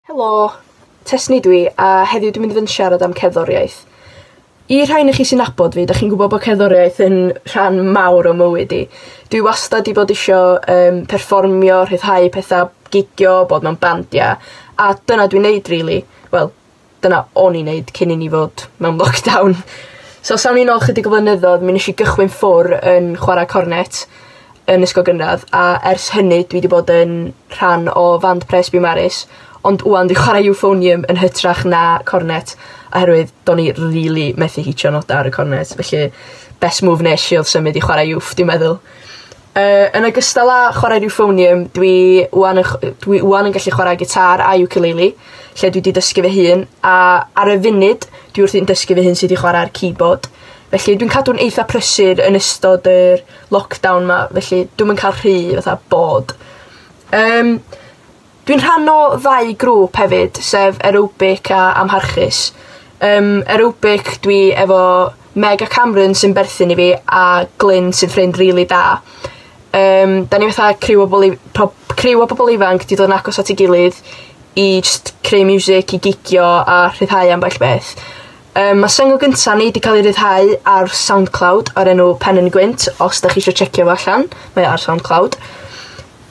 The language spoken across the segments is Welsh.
Helo! Tesni dwi a heddiw dwi mynd i fyn' siarad am cerddoriaeth. I rhai onoch chi sy nabod fi 'dach chi'n gwbod bo' cerddoriaeth yn rhan mawr o mywyd i. Dwi wastad 'di bod isio yym perfformio rhyddhau petha gigio bod mewn bandia a dyna dwi'n neud rili. Wel dyna o'n i'n neud cyn i ni fod mewn lockdown. So os awn ni nôl chydig o flynyddodd mi nesh i gychwyn ffwr' yn chwara cornet yn ysgol gynradd a ers hynny dwi 'di bod yn rhan o fand pres Bee Maris ond ŵan dwi chware Euphonium yn hytrach na cornet oherwydd do'n i rili methu hitio noda ar y cornet felly best move nesh i odd symud i chware Euff dwi'n meddwl. Yy yn ogystal â chwarae'r Euphonium dwi ŵan yn chw- yy dwi ŵan yn gallu chware gitâr a iwcaleili lle dwi 'di dysgu fy hun a ar y funud dwi wrthi'n dysgu fy hun sud i chwara'r keyboard felly dwi'n cadw'n eitha prysur yn ystod yr lockdown 'ma felly dwi'm yn ca'l rhy fatha bored. Yym. Dwi'n rhan o ddau grŵp hefyd sef aerobic a amharchus. Yym aerobic dwi efo Meg a Cameron sy'n berthyn i fi a Glyn sy'n ffrind rili da. Yym 'dan ni fatha criw o bobol i- pob criw o pobol ifanc 'di dod yn agos at 'i gilydd i jst creu miwsic i gigio a rhyddhau ambell beth. Um, mae syngl gyntaf ni wedi cael ei ryddhau ar SoundCloud ar enw Pen yn Gwynt, os da chi eisiau checio fo allan, mae ar SoundCloud.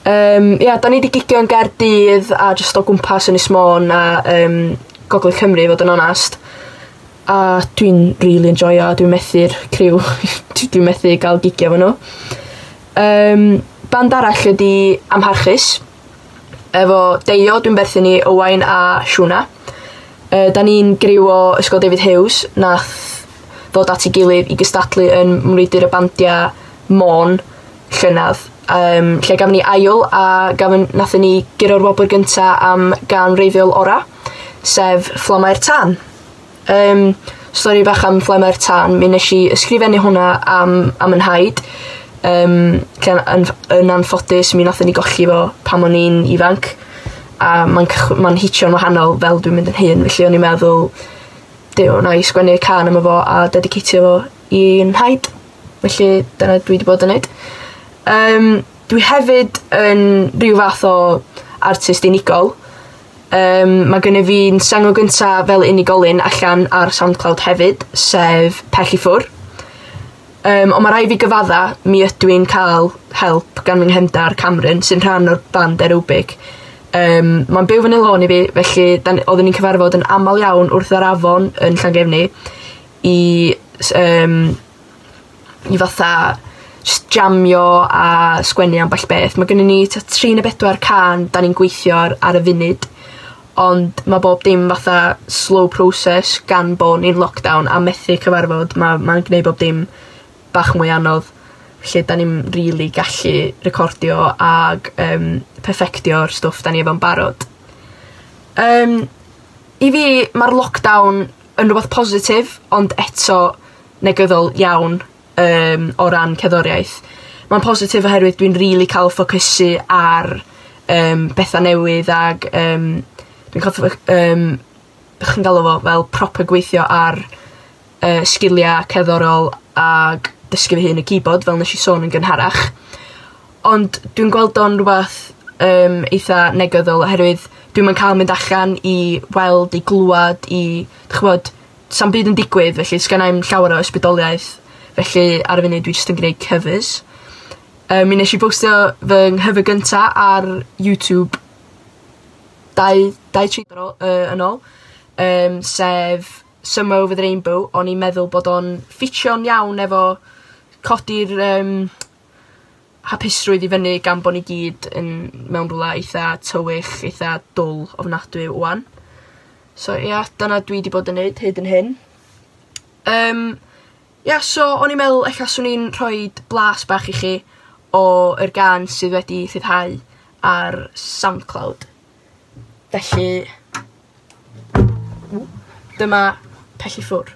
Um, ia, da ni wedi gigio yn Gaerdydd a jyst o gwmpas yn Ismôn a um, Gogledd Cymru, fod yn onast. A dwi'n really enjoyo, dwi'n methu'r criw, dwi'n methu gael gigio fo nhw. Um, band arall ydi Amharchus, Efo Deio dwi'n berthyn i Owain a Siwna. Yy 'dan ni'n griw o Ysgol David Huws nath ddod at 'i gilydd i gystadlu yn Mrwydr y Bandia Môn llynadd yym lle gafon ni ail a gafon nathon ni gyro'r wobr gynta am gân wreiddiol ora' sef Fflamau'r Tân. Yym stori bach am Flaene'r Tân mi nesh i ysgrifennu hwnna am am 'yn nhaid yym lle o- yn ff- yn anffodus mi nathon ni golli fo pan o'n i'n ifanc a ma'n cychw- ma'n hitio'n wahanol fel dwi'n mynd yn hŷn felly o'n i'n meddwl Duw wnâi sgwennu cân am'o fo a dediceitio fo i 'yn nhaid. Felly dyna dwi 'di bod yn neud. Yym dwi hefyd yn rhyw fath o artist unigol. Yym ma' gynnyf fi'n sengl gynta fel unigolyn allan ar SoundCloud hefyd sef Pell i Ffwr'. Yym on' ma' rai' fi gyfadda mi ydw i'n ca'l help gan fy nghefndar Cameron sy'n rhan o'r band Aerobic yym ma'n byw fyny lôn i fi felly 'dan ni... Oddwn ni'n cyfarfod yn amal iawn wrth yr afon yn Llangefni i s- yym i fatha js jamio a sgwennu ambell beth ma' gynnon ni tua tri ne' bedwar cân 'dan ni'n gweithio ar ar y funud ond ma' bob dim fatha slow process gan bo' ni'n lockdown a methu cyfarfod ma' ma'n gneud bob dim bach mwy anodd. Felly 'dan ni'm rili gallu recordio ag yym perfectio'r stwff 'dan ni efo'n barod. Yym i fi ma'r lockdown yn rwbath positif ond eto negyddol iawn yym o ran cerddoriaeth. Ma'n positif oherwydd dwi'n rili ca'l ffocysu ar yym betha newydd ag yym dwi'n ca'l ffyc- yym be' chi'n galw fo fel proper gweithio ar yy sgilia cerddorol ag dysgu fy hun y keyboard fel nesh i sôn yn gynharach. Ond dwi'n gweld o'n rwbath yym eitha negyddol oherwydd dwi'm yn ca'l mynd allan i weld i glwad i 'dych ch'mod sa'm byd yn digwydd felly sgennai 'im llawer o ysbrydoliaeth felly ar y funud dwi jyst yn gneud cofis. Yy mi nesh i bostio fy nghyfer gynta' ar YouTube dau dau tri tro yy yn ôl yym sef Summer Over The Rainbow o'n i'n meddwl bod o'n ffitio'n iawn efo codi'r yym hapusrwydd i fyny gan bo' ni gyd yn mewn rwla eitha tywyll eitha dwl ofnadwy ŵan. So ia dyna dwi 'di bod yn neud hyd yn hyn. Yym ia so o'n i'n meddwl ella swn i'n rhoid blas bach i chi o yr gân sydd wedi rhyddhau ar SoundCloud. Felly ww dyma Pell i ffwr'.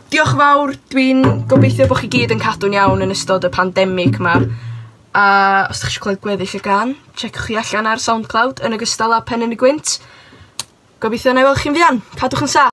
Diolch yn fawr dwi'n gobeithio bo' chi gyd yn cadw'n iawn yn ystod y pandemic 'ma a os 'dach chi isio clywed gweddill y gân tsieciwch hi allan ar Soundcloud yn ogystal â Pen yn y Gwynt. Gobeithio nâi weld chi'n fuan. Cadwch yn sa-.